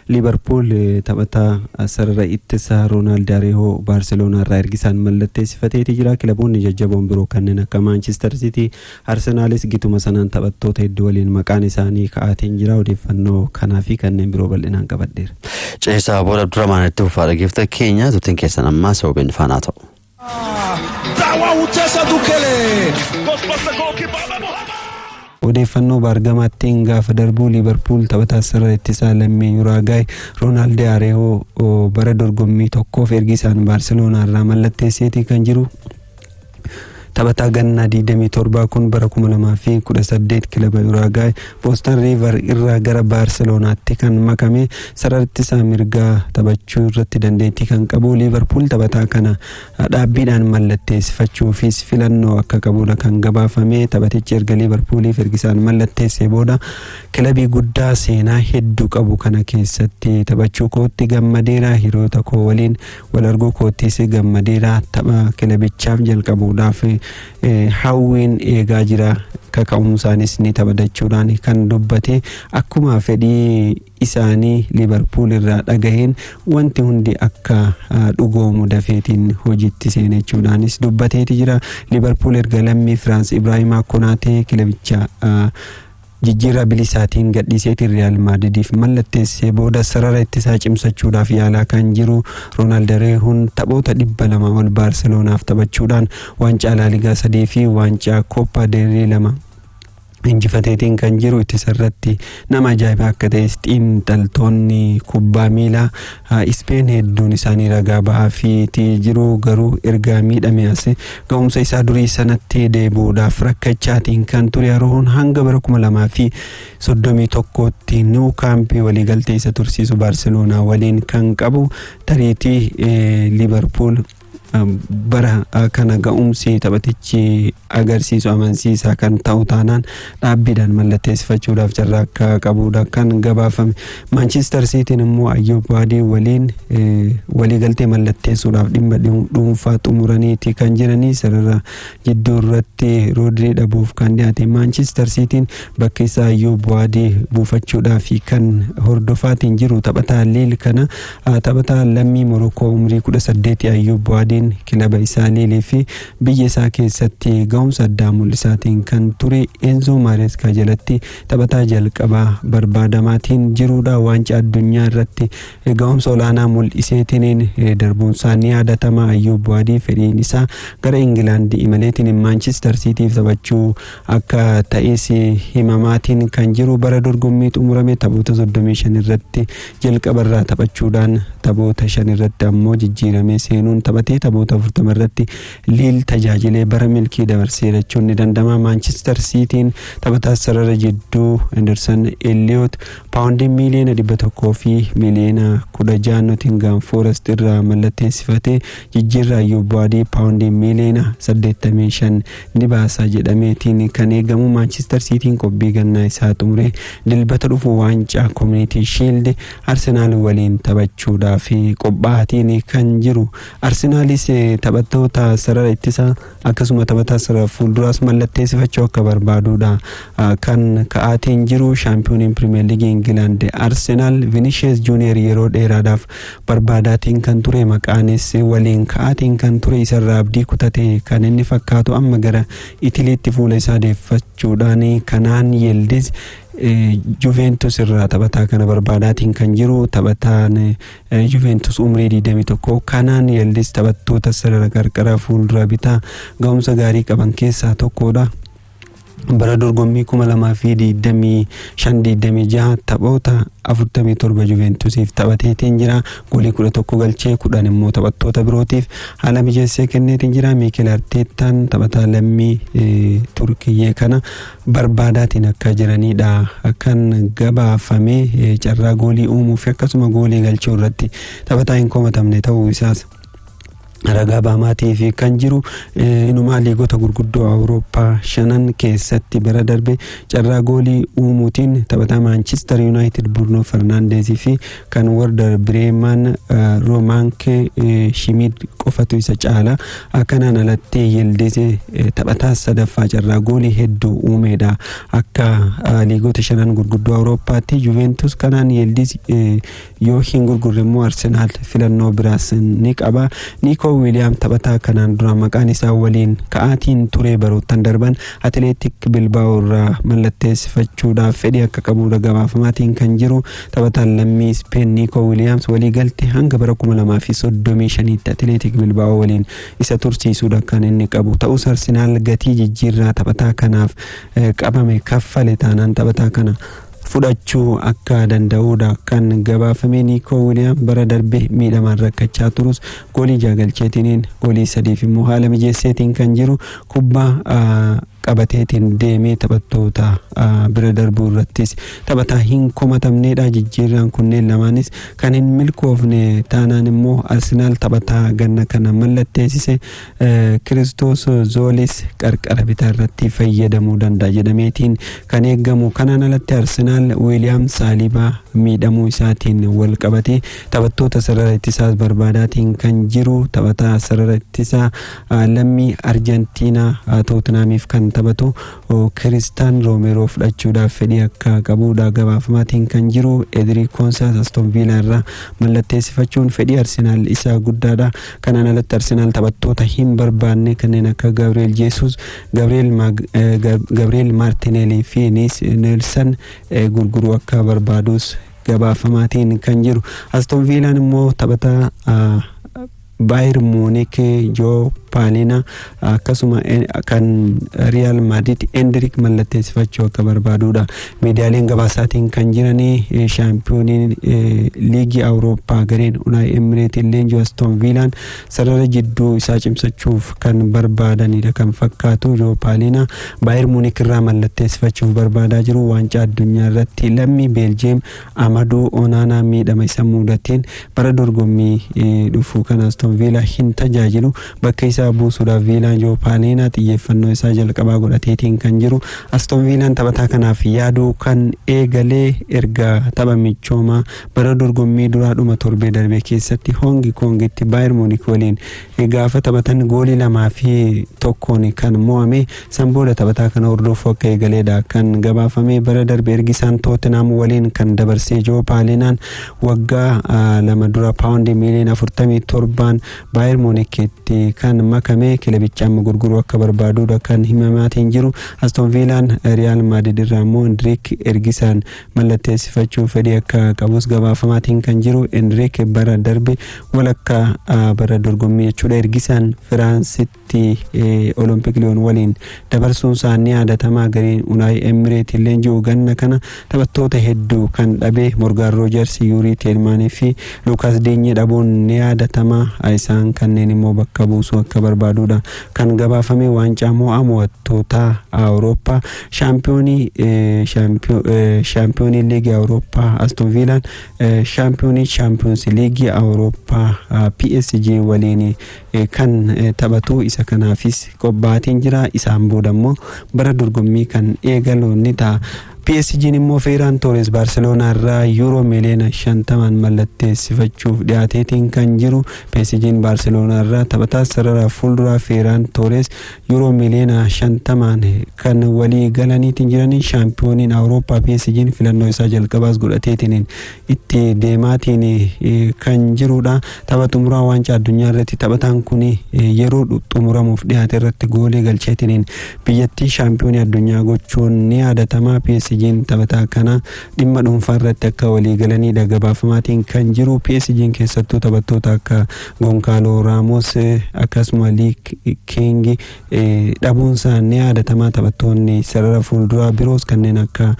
Liivarpuul taphataa sarara ittisaa Roonaald Areehoo Baarseloonaarraa ergi isaan mallatteessifateeti jira. Kilaboonni jajjaboon biroo kanneen akka Maanchister Siitii, Arsenaalis gituma sanaan taphattoota hedduu waliin maqaan isaanii ka'aatiin jira. Odeeffannoo kanaa fi kanneen biroo bal'inaan qabadheera. Ceesaa booda Abdurrahmaan itti fufaa dhageefta keenya turtiin keessan ammaa sababeen faanaa ta'u. Odeeffannoo baargamaattiin gaafa darbuu Liivarpuul taphataa sarara ittisaa lammii Yuraagaay Roonaald Areewoo bara dorgommii tokkoof ergi isaan Baarseloonaa irraa mallatteesseetii kan jiru taphataa gannaa 27 kun bara 2018 kilaba Yuraagaay Boston Riivar irraa gara Baarseloonaatti kan makame sarartisaa mirgaa taphachuu irratti dandeettii kan qabu Liivarpuul taphataa kana dhaabbiidhaan mallatteessifachuufis filannoo akka qabudha kan gabaafame. Taphatichi erga Liivarpuulii Fergisaan mallatteessee booda kilabii guddaa seenaa hedduu qabu kana keessatti taphachuu kootti gammadeera. Hiriyoota koo waliin wal arguu koottis gammadeera. Tapha kilabichaaf jalqabuudhaaf hawwiin eegaa jira kaka'umsaanis ni taphatachuudhaan kan dubbate akkuma fedhii isaanii liibarpuul irraa dhagaheen wanti hundi akka dhugoomu dafeetiin hojiitti seene jechuudhaanis dubbateeti jira liibarpuul erga lammii firaans ibraahimaa konaatee kilabicha Jijjiirraa bilisaatiin gadhiiseetiin Riyaal Maadridiif mallatteessisee booda sarara ittisaa cimsachuudhaaf yaalaa kan jiru Roonaal Dareehuun taphoota 200 ol Baarseloonaaf taphachuudhaan waancaa Laaligaa 3 fi waancaa Kooppaa del Rey 2 injifateetiin kan jiru ittisarratti nama ajaa'ibaa akka ta'es xiinxaltoonni kubbaa miilaa a Ispeen hedduun isaanii ragaa ba'aafiiti jiru garuu erga miidhame as ga'umsa isaa durii sanatti deebi'uudhaaf rakkachaatiin kan ture Aroohoon hanga bara 2031tti niw kaampii waliigaltee isa tursiisu Baarseloonaa waliin kan qabu tariitii Liiverpuul bara kana ga'umsi taphatichi agarsiisu amansiisaa kan ta'u taanaan dhaabbiidhaan mallatteessifachuudhaaf carraa akka qabuudha kan gabaafame. Maanchiistar Siitiin immoo Ayyuub Baadii waliin waliigaltee mallatteessuudhaaf dhimma dhuunfaa xumuraniiti kan jiranii sarara jidduu irratti Roodrii dhabuuf kan dhiyaate. Maanchiistar Siitiin bakki isaa Ayyuub Baadii buufachuudhaaf kan hordofaatiin jiru taphataa Liil kana Taphataa lammii Morookoo umrii 18 Ayyuub Buwaadiin kilaba isaa Liilii fi biyya isaa keessatti ga'umsa addaa mul'isaatiin kan ture Eenzoo Maareeskaa jalatti taphataa jalqabaa barbaadamaatiin jiruudha. Waancaa addunyaa irratti ga'umsa olaanaa mul'iseetiin darbuunsaa ni yaadatama. Ayyuub Buwaadii fedhiin isaa gara Ingilaandi imaleetiin Maanchister Siitiif taphachuu Akka ta'iinsi himamaatiin kan jiru bara dorgommii xumurame taphoota 35 irratti jalqaba irraa taphachuudhaan taphoota 5 irratti ammoo jijjiiramee seenuun taphatee taphoota 40 irratti Liil tajaajilee bara milkii dabarseera jechuun ni danda'ama. Maanchister Siitiin taphataa sarara jidduu Henderson Elliot paawundii miiliyoona 100 fi miiliyoona 16 Notingaam Foorest irraa mallatteessifatee jijjiirraa Yuubaadii paawundii miiliyoona 85 ni baasa jedhameetiin kan eegamu Maanchister Siitiin qobbii gannaa isaa xumuree dilbata dhufu waancaa Koominitii Shiild Arsenaal waliin taphachuudhaaf qophaatiin kan jiru. Arsenaalis taphattoota sarara ittisaa akkasuma taphataa sarara fuulduraas mallatteessifachuu akka barbaaduudha kan ka'aatiin jiru. Shaampiyooniin Pirimeer Liigii Ingilaand Arsenaal Vinishees Juuniyeer yeroo dheeraadhaaf barbaadaatiin kan ture maqaanis waliin ka'aatiin kan ture isarraa abdii kutate kan inni fakkaatu amma gara itiliitti fuula isaa deeffachuudhaan kanaan yildiz Juventus irraa taphataa kana barbaadaatiin kan jiru taphataan Juventus umrii 21 kanaan yildiz taphattoota sarara qarqara fuuldura bitaa ga'umsa gaarii qaban keessaa tokkodha. bara dorgommii 2025-26 taphoota 47 Juventusiif taphateetiin jira. Goolii 11 galchee 10 immoo taphattoota birootiif haala mijeessee kenneetiin jira. Miikil Arteettaan taphataa lammii Turkiyyee kana barbaadaatiin akka jiranidha. Kan gabaafame carraa goolii uumuu fi akkasuma goolii galchuu irratti taphataa hin komatamne ta'uu isaas ragaa baamaatii fi kan jiru inumaa liigota gurguddoo awurooppaa shanan keessatti bara darbe carraa goolii uumuutiin taphataa maanchister yuunaayitid burno fernaandeezii fi kan warda bireemaan roomaankee shimiid qofatu isa caala akkanaan alatti yildize taphataa sadaffaa carraa goolii hedduu uumeedha akka liigota shanan gurguddoo awurooppaatti juventus kanaan yildiz Yoo hin gurgurre immoo Arsenaal filannoo biraas ni qaba. Niikoo Wiiliyaam taphataa kanaan dura maqaan isaa waliin ka'aatiin turee baroottan darban Atileetik Bilbaa'oo irraa mallatteessifachuudhaaf fedhii akka qabuudha gabaafamaatiin kan jiru. Taphataan lammii Ispeen Niikoo Wiiliyaams waliigalte hanga bara 2035tti Atileetik Bilbaa'oo waliin isa tursiisuudha kan inni qabu. Ta'us Arsenaal gatii jijjiirraa taphataa kanaaf qabame kaffale taanaan taphataa kana fudhachuu akka danda'uudha kan gabaafame Niikoo Wiliyaam bara darbe miidhamaan rakkachaa turus goolii jaha galcheetiniin goolii sadiif immoo haala mijeesseetiin kan jiru kubbaa qabateetiin deemee taphattoota bira darbuu irrattis taphataa hin komatamneedha jijjiirraan kunneen lamaanis kan hin milkoofne taanaan immoo Arsenaal taphataa ganna kana mallatteessise Kiristoos Zoolis qarqara bitaarratti fayyadamuu danda'a jedhameetiin kan eegamu. Kanaan alatti Arsenaal Wiiliyaam Saalibaa miidhamuu isaatiin wal qabatee taphattoota sarara ittisaas barbaadaatiin kan jiru taphataa sarara ittisaa lammii Arjantiinaa Tootinaamiif kan taphatu Kiristaan Roomeeroo fudhachuudhaaf fedhii akka qabuudha gabaafamaatiin kan jiru. Edirii Koonsaas Aston Viilaa irraa mallatteessifachuun fedhii Arsenaal isaa guddaadha. Kanaan alatti Arsenaal taphattoota hin barbaanne kanneen akka Gabriel Jeesuus, Gabriel Mag- eh, Gab- Gabriel Martinelli fi Niis Neelsan eh, gurguruu akka barbaadus gabaafamaatiin kan jiru. Aston Viilaan immoo taphataa ah, Baayir Muunik Joo Paalina akkasuma kan riyaal maadriid endirik mallatteessifachuu akka barbaaduudha miidiyaaleen gabaasaatiin kan jiranii shaampiyooniin liigii awurooppaa gareen unaay emireetiin leenjii astoon viilaan sarara jidduu isaa cimsachuuf kan barbaadaniidha kan fakkaatu joopaaliina baayir muunik irraa mallatteessifachuuf barbaadaa jiru waancaa addunyaa irratti lammii beeljiyeem Amaduu Onaanaa miidhama isa muudateen bara dorgommii dhufu kan Aston Viilaa hin tajaajilu. Bakka isaa buusuudhaaf Viilaan Joo Paaliinaa xiyyeeffannoo isaa jalqabaa godhateetiin kan jiru. Aston Viilaan taphataa kanaaf yaaduu kan eegale erga tapha michoomaa bara dorgommii duraa dhuma torbee darbee keessatti Hoongi Koongitti Baayir Muunik waliin Gaafa taphatan goolii 2 fi 1n kan mo'ame. San booda taphataa kana hordoofuu akka eegaleedha kan gabaafame. Bara darbe ergi isaan Tootenhaam waliin kan dabarse Joo Paalinaan waggaa lama dura paawundii miiliyoona 47n Baayer Muunikitti kan makame. Kilabicha amma gurguruu akka barbaaduudha kan himamaatiin jiru. Aston Viilaan Riyaal Maadrid irraa immoo Indiriik Ergisaan mallatteessifachuuf fedhii akka qabus gabaafamaatiin kan jiru Enriik bara darbe walakkaa bara dorgommii jechuudha ergisaan Firaansitti Olompik Liyoon waliin dabarsuun isaa ni yaadatamaa gareen Unaay Emireetiin leenji'u ganna kana taphattoota hedduu kan dhabe Morgaan Roojarsi Yuurii Teelmaanii fi Luukaas Diinyee dhabuun ni yaadatamaa isaan kanneen immoo bakka buusuu akka barbaadudha kan gabaafame waancaa mo'aa mo'attootaa Awurooppaa Shaampiyoonii Shaampiyoonii Liigii Awurooppaa Aston Viilaan Shaampiyoonii Shaampiyoonsi Liigii Awurooppaa PSG waliin kan taphatu isa kanaafis qophaa'atiin jira isaan booda immoo bara dorgommii kan eegalu ni ta'a. PSG'n immoo Feeraan Toores Baarseloonaa irraa yuuroo miliyoona shantamaan mallatteessifachuuf dhiyaateetiin kan jiru PSG'n Baarseloonaa irraa taphataa sarara fuulduraa Feeraan Toores Yuuroo miliyoona 50n kan walii galaniitiin jiranii shaampiyooniin Awurooppaa PSG'n filannoo isaa jalqabaas godhateetiin itti deemaatiin kan jirudha. Tapha xumuraa waancaa addunyaa irratti taphataan kun yeroo xumuramuuf dhiyaate irratti goolii galcheetiin biyyattii shaampiyoonii addunyaa gochuun ni yaadatama. PSG'n taphataa kana Dhimma dhuunfaa irratti akka walii galaniidha gabaafamaatiin kan jiru. PSG'n keessattuu taphattoota akka Gonkaaloo Raamos akkasuma Lii Kiingi dhabuunsaa ni yaadatama. Taphattoonni sarara fuulduraa biroos kanneen akka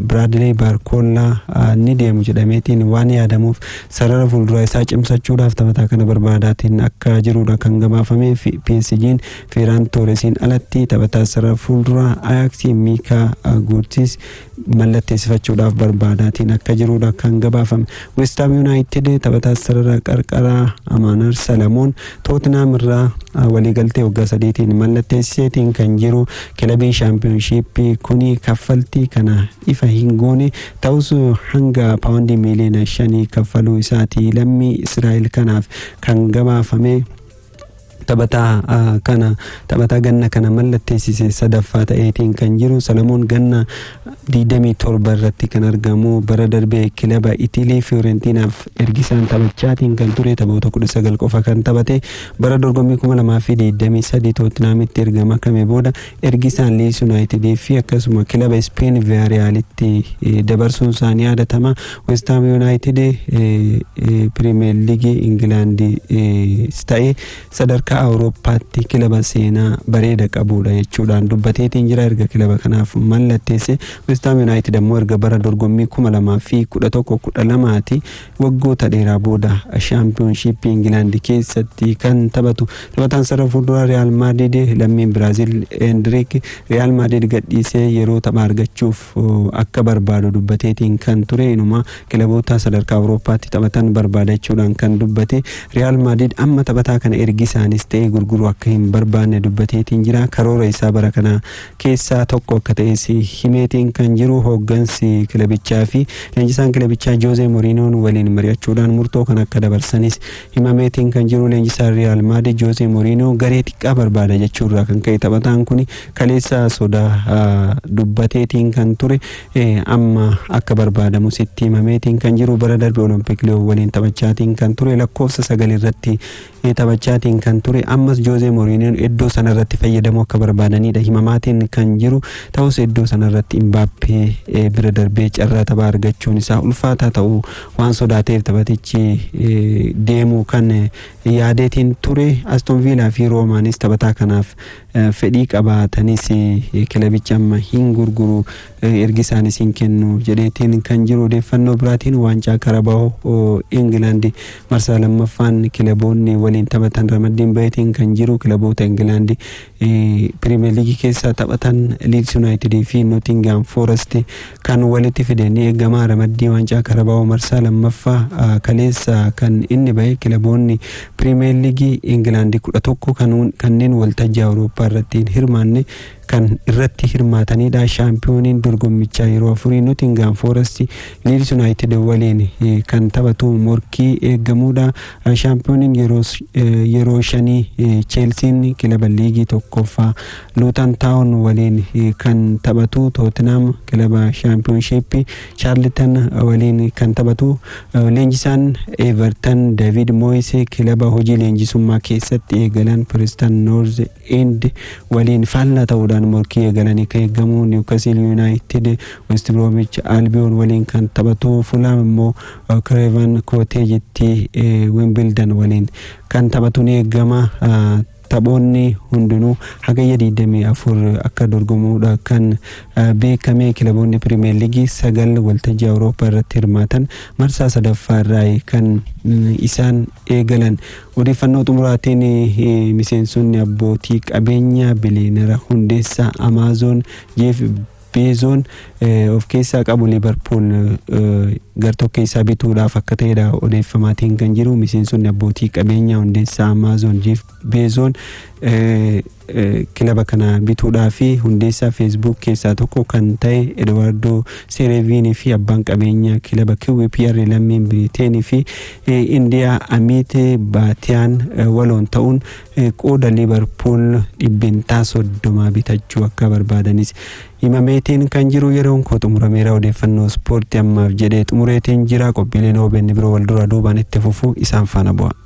Biraadilee Baarkoollaa ni deemu jedhameetiin waan yaadamuuf sarara fuulduraa isaa cimsachuudhaaf taphataa kana barbaadaatiin akka jirudha kan gabaafame. PSG'n Feeraan Tooresiin alatti taphataa sarara fuulduraa Ayaaksii Miikaa Guurtiis mallatteessifachuudhaaf barbaadaatiin akka jiruudha kan gabaafame. Westaam Yuunaayitid taphataa sarara qarqaraa Amaanar Salamoon Tootnaam irraa waliigaltee waggaa sadiitiin mallatteessiseetiin kan jiru kilabiin shaampiyoonshiippii kuni kaffaltii kana ifa hin goone ta'us hanga paawundii miiliyoona shanii kaffaluu isaati lammii Israa'el kanaaf kan gabaafame. Taphataa kana taphataa ganna kana mallatteessise sadaffaa ta'eetiin kan jiru Salamoon ganna 27 irratti kan argamu bara darbe kilaba Itilii Fiyoorentiinaaf ergisaan taphachaatiin kan ture taphoota 19 qofa kan taphate bara dorgommii 2023 Tootinaamitti erga makame booda Ergi isaan Liids Yunaayitidii fi akkasuma kilaba Ispeen Viyaariyaalitti dabarsuun isaa ni yaadatama. Westaam Yunaayitid Piriimeer Liigii Ingilaandis ta'e sadarkaa Awurooppaatti kilaba seenaa bareeda qabuudha jechuudhaan dubbateetiin jira erga kilaba kanaaf mallatteesse. Westaam Yunaayitid ammoo erga bara dorgommii kuma lamaa fi kudha tokko kudha lamaati Waggoota dheeraa booda Shaampiyoonshiippii Ingilaandi keessatti kan taphatu taphataan sarara fuulduraa Riyaal Maadriid lammiin Biraazil Eendiriik Riyaal Maadriid gadhiisee yeroo taphaa argachuuf akka barbaadu dubbateetiin kan ture inuma kilaboota sadarkaa Awurooppaatti taphatan barbaada jechuudhaan kan dubbate Riyaal Maadriid amma taphataa kana ergisaanis ta'ee gurguruu akka hin barbaanne dubbateetiin jira karoora isaa bara kanaa keessaa tokko akka ta'es himeetiin kan jiru hooggansi kilabichaa fi leenjisaan kilabichaa Joozee Moriinoon waliin mari'achuudhaan murtoo kan akka dabarsanis himameetiin kan jiru leenjisaan Riyaal Maadrid Joozee Moriinoo garee xiqqaa barbaada jechuurraa kan ka'e taphataan kun kaleessa sodaa dubbateetiin kan ture amma akka barbaadamus itti himameetiin kan jiru bara darbe Olompik Liyoon waliin taphachaatiin kan ture lakkoofsa sagal irratti taphachaatiin kan ture ammas Joozee Moriiniyoon iddoo sanarratti fayyadamuu akka barbaadaniidha himamaatiin kan jiru ta'us iddoo sanarratti Imbaappee bira darbee carraa taphaa argachuun isaa ulfaataa ta'uu waan sodaateef taphatichi deemuu kan yaadeetiin ture Aston Viilaa fi Roomaanis taphataa kanaaf fedhii qabaatanis kilabichi amma hin gurguru ergi isaan isin kennu jedheetiin kan jiru odeeffannoo biraatiin waancaa karabaa'oo Ingilaandi marsaa lammaffaan kilaboonni waliin taphatan ramaddiin baheetiin kan jiru kilaboota Ingilaandi piriimeer liigii keessaa taphatan Liids Yuunaayitidii fi Nootingaam Foorest kan walitti fide ni eegama ramaddii waancaa karabaa'oo marsaa lammaffaa kaleessa kan inni bahe kilaboonni piriimeer liigii Ingilaandi kudha tokko kanneen waltajjii Awurooppaa irratti hin hirmaanne kan irratti hirmaatanidha. Shaampiyooniin dorgommichaa yeroo afurii Notingaam Foorasti Liids Yunaayitid waliin kan taphatu morkii eegamudha. Shaampiyooniin yeroo shanii Cheelsiin kilaba liigii tokkoffaa Luutan Taawun waliin kan taphatu Tootinaam kilaba shaampiyoonshiippii Chaarlitan waliin kan taphatu leenjisaan Evertan David Moyes kilaba hojii leenjisummaa keessatti eegalan Piristan Noorz Ind waliin faallaa ta'uudhaan morkii eegalan akka eegamu Niwkasiil Yuunaayitid West Biroomiich Albiyoon waliin kan taphatu, Fulaam immoo Kireevan Kooteejitti Wimbildan waliin kan taphatu ni eegama. Taphoonni hundinuu Hagayya 24 akka dorgomuudha kan beekame. Kilaboonni Piriimeer Liigii sagal waltajjii Awurooppaa irratti hirmaatan marsaa sadaffaa irraa kan isaan eegalan. Odeeffannoo xumuraatiin miseensonni abbootii qabeenyaa biliyeenara hundeessaa Amaazoon Jeef Beezoon of keessaa qabu Liivarpuul gartokkee isaa bituudhaaf akka ta'edha odeeffamaatiin kan jiru. Miseensonni abbootii qabeenyaa hundeessaa Amaazoon Jeef Beezoon kilaba kana bituudhaa fi hundeessaa feesbuuk keessaa tokko kan ta'e Eduwaardoo Seereeviinii fi abbaan qabeenyaa kilaba QPR lammiin Biriiteenii fi Indiyaa Amiitee Baatiyaan waloon ta'uun qooda Liivarpuul dhibbentaa soddomaa bitachuu akka barbaadanis himameetiin kan jiru yeroon koo xumurameera odeeffannoo ispoortii ammaaf jedhee xumureetiin jira qophiileen OBN biroo wal duraa duubaan itti fufu isaan faana bu'a.